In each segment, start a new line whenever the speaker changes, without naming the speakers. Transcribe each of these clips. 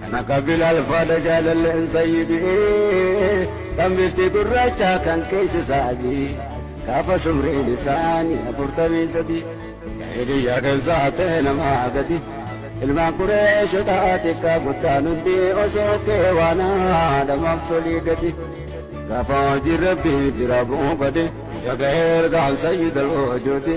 Kana ka Bilaal faadha jaalalleen sayyidii Kan bifti gurraacha kan keessa saadii Gaafa sumriin isaanii afurtamii sadii Jaahiliyyaa keessa ta'e namaa gadi Ilmaan qureeshota xiqqaa guddaan hundi osoo kee waan haadhamaaf tolii gadi Gaafa hojii rabbii bira bu'uu bade Isa ga'ee ergaan sayyidal ojooti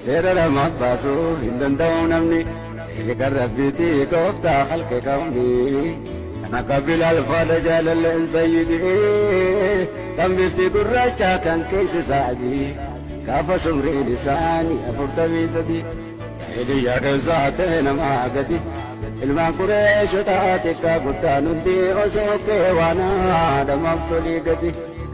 Seera namaaf baasuu hin danda'u namni Seerri kan Rabbiiti gooftaa khalqi kawni Kan akka Bilaal faadha jaalalleen sayyidi Kan bifti gurraacha kan keessi isaa adii Gaafa sumriin isaanii afurtamii sadii Jaahiliyyaa keessa ta'e namaa gadi Ilmaan Qureeshotaa xiqqaa guddaan hundi Osoo kee waan haadhamaaf tolii gadi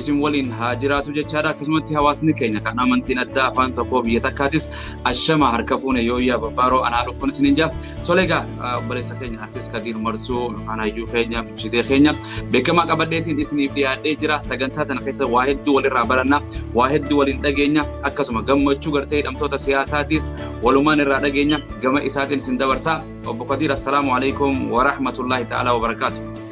isin waliin haa jiraatu jechaadha akkasumatti hawaasni keenya kan amantiin addaa afaan tokkoo biyya takkaatis ashama harka fuune yoo iyyaa babbaaroo anaa dhufuun isin hin jaa soleegaa obboleessa keenya artist kadiir marsuu yookaan hayyuu keenya ibsidee keenya beekamaa qabadheetiin isiniif dhiyaadhee jira sagantaa tana keessa waa hedduu walirraa baranna waa hedduu waliin dhageenya akkasuma gammachuu gartee hidhamtoota siyaasaatiis walumaan irraa dhageenya gama isaatiin isin dabarsaa obbo kadiir assalaamu alaikum warahmatullaahi ta'aalaa wabarakaatu.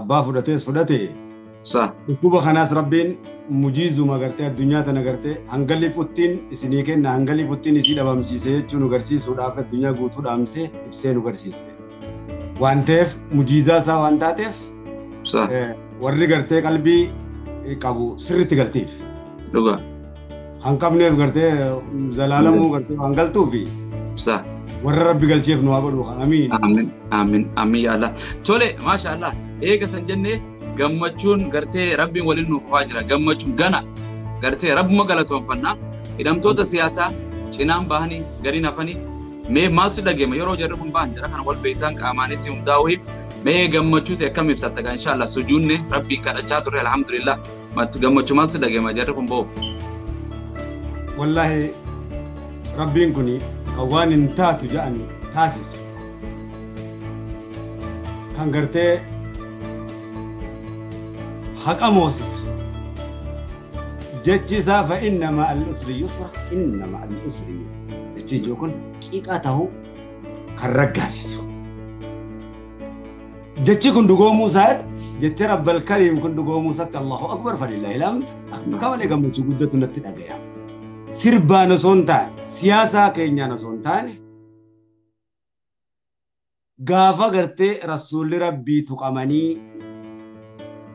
abbaa fudhatees fudhate Sa.
dhukkuba kanaas
rabbiin mujiizuma gartee addunyaa tana gartee hanga liputtiin isinii kenna hanga liputtiin isii dhabamsiise jechuu nu garsiisuudhaaf addunyaa guutuu dhaamsee ibsee nu garsiise. Waan ta'eef mujiizaa isaa waan taateef Sa. eh, warri gartee qalbii qabu sirriitti galtiif. Dhugaa.
kan
qabneef gartee zalaalamuu gartee waan galtuufi Sa. warra rabbi galcheef nu haa godhu kan amiin Amin, amin, amin
ya Allah. Tole, masha Allah. Eega san jennee gammachuun gartee rabbiin waliin nuuf fufaa jira. Gammachuun gana gartee rabbuma galatoonfannaa. Hidhamtoota siyaasaa cinaan bahanii gadiin hafanii mee maaltu dhageema yeroo jarri kun bahan jara kana wal beektaan qaamaanis hundaa'uu mee gammachuu ta'e akkam ibsatta kan inshallah sujuunne rabbiin kadhachaa turre alhamdulillah. Matti gammachuu maaltu si dhaga'ama jarri kun boof.
Wallaahi rabbiin kun kan waan hin taatu jedhan taasisu. Kan gartee haqa moosisu. Jechi isaa fa inna ma'al usri yusra inna ma'al usri yusra. Jechi ijoo kun qixa ta'uu kan raggaasisu. Jechi kun dhugoomuu isaatti jecha Rabbal Kariim kun dhugoomuu isaatti Allahu Akbar fadilaa ilaamtu akka malee gammachuu guddatu natti dhagaya. Sirbaan osoo hin taane siyaasaa keenyaan osoo hin taane gaafa gartee rasuulli rabbii tuqamanii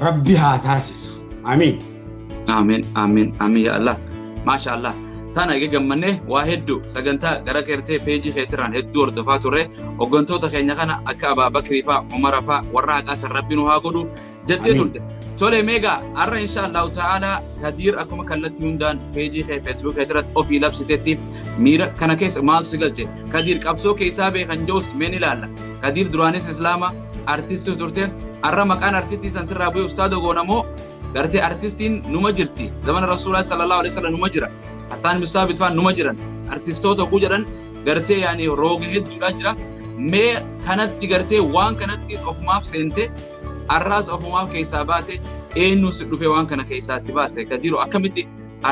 Rabbi haa taasisu. Amiin. Amiin
amiin amiin yaa Allah. Maasha Allah. Tana egaa gammannee waa hedduu sagantaa gara keertee peejii keetirraan hedduu hordofaa turre hooggantoota keenya kana akka Abaa Bakrii faa Umara faa warra haqaa san rabbi nu haa godhu jettee Amiin. turte. Tole meegaa har'a insha Allahu ta'ala Kadiir akkuma kallattii hundaan peejii kee Facebook keetirratti ofii labsitetti miira kana keessa maaltu si galche? Kadiir qabsoo keessaa beekan joos meen ilaalla. Kadiir duraanis Islaama artistuu turte har'a maqaan artistii san sirraa bu'ee ustaadoo goona moo gartee artistiin numa jirti zamana rasuulaa sallallahu alaihi wasallam numa jira hattaan bisaa bitfaan numa jiran artistoota oguu jedhan gartee yaani rooga hedduudhaa jira mee kanatti gartee waan kanattis ofumaaf seente har'aas ofumaaf keessaa baate eenyu si dhufe waan kana keessaa si baase kadiiroo akkamitti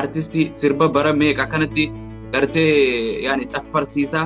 artistii sirba bara meeqa kanatti gartee yaani caffarsiisaa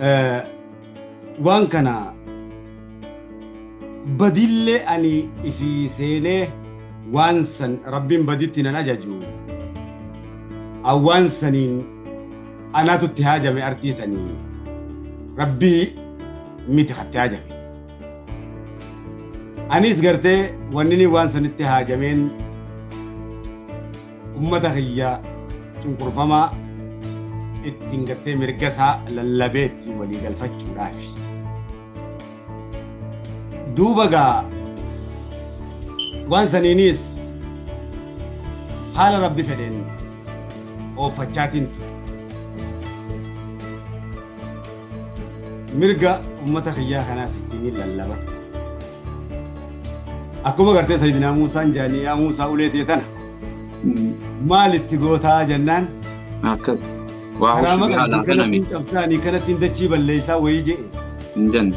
Eh, waan kana badillee ani ifi seenee waan san rabbiin baditti nan ajaju an waan saniin anaatu itti haajame artii sanii rabbii miti katti haajame anis gartee wannini waan sanitti haajameen Ummata kiyya cunqurfamaa ittiin gartee mirga isaa lallabee ittiin walii galfachuudhaaf. Duuba gaa waan saniinis haala rabbi fedheen ooffachaatiin ture. Mirga ummata kiyyaa kanaas ittiin lallabatu. Akkuma gartee Sayyidinaa Muusaan jaanii yaa Muusaa ulee tee tana maal itti gootaa jennaan Akkas.
Waa karaa hushuu maqaa haalaa kana kanattiin cabsaanii kanattiin
dachii balleessaa wayii jedhe hin jenne.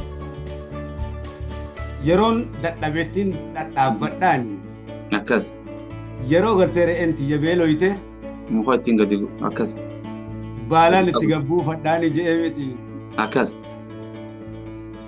yeroon dadhabettiin dhadhaabbadhaan Akkas.
yeroo
gartee re'een tiyya beeloyte Muka ittiin
gadi gu- akkas. baalaan
itti gabbuufadhaani jedhee miti Akkas.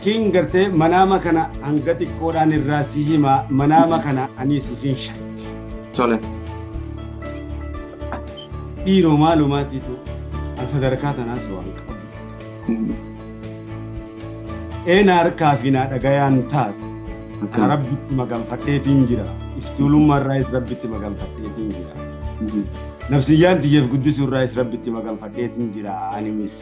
King gartee manaama kana hanga xiqqoodhaan irraa si hima manaama kana ani si finsha. Tole. Dhiiroo maalumaatiitu an sadarkaa tanaas waan qabu. Eena harkaa fi naa dhagayaan taatu. Kana rabbitti maganfadheetiin jira. Iftuulummaa irraayis rabbitti maganfadheetiin jira. Nafsiyyaan tiyyeef guddisuu irraayis rabbitti maganfadheetiin jira animis.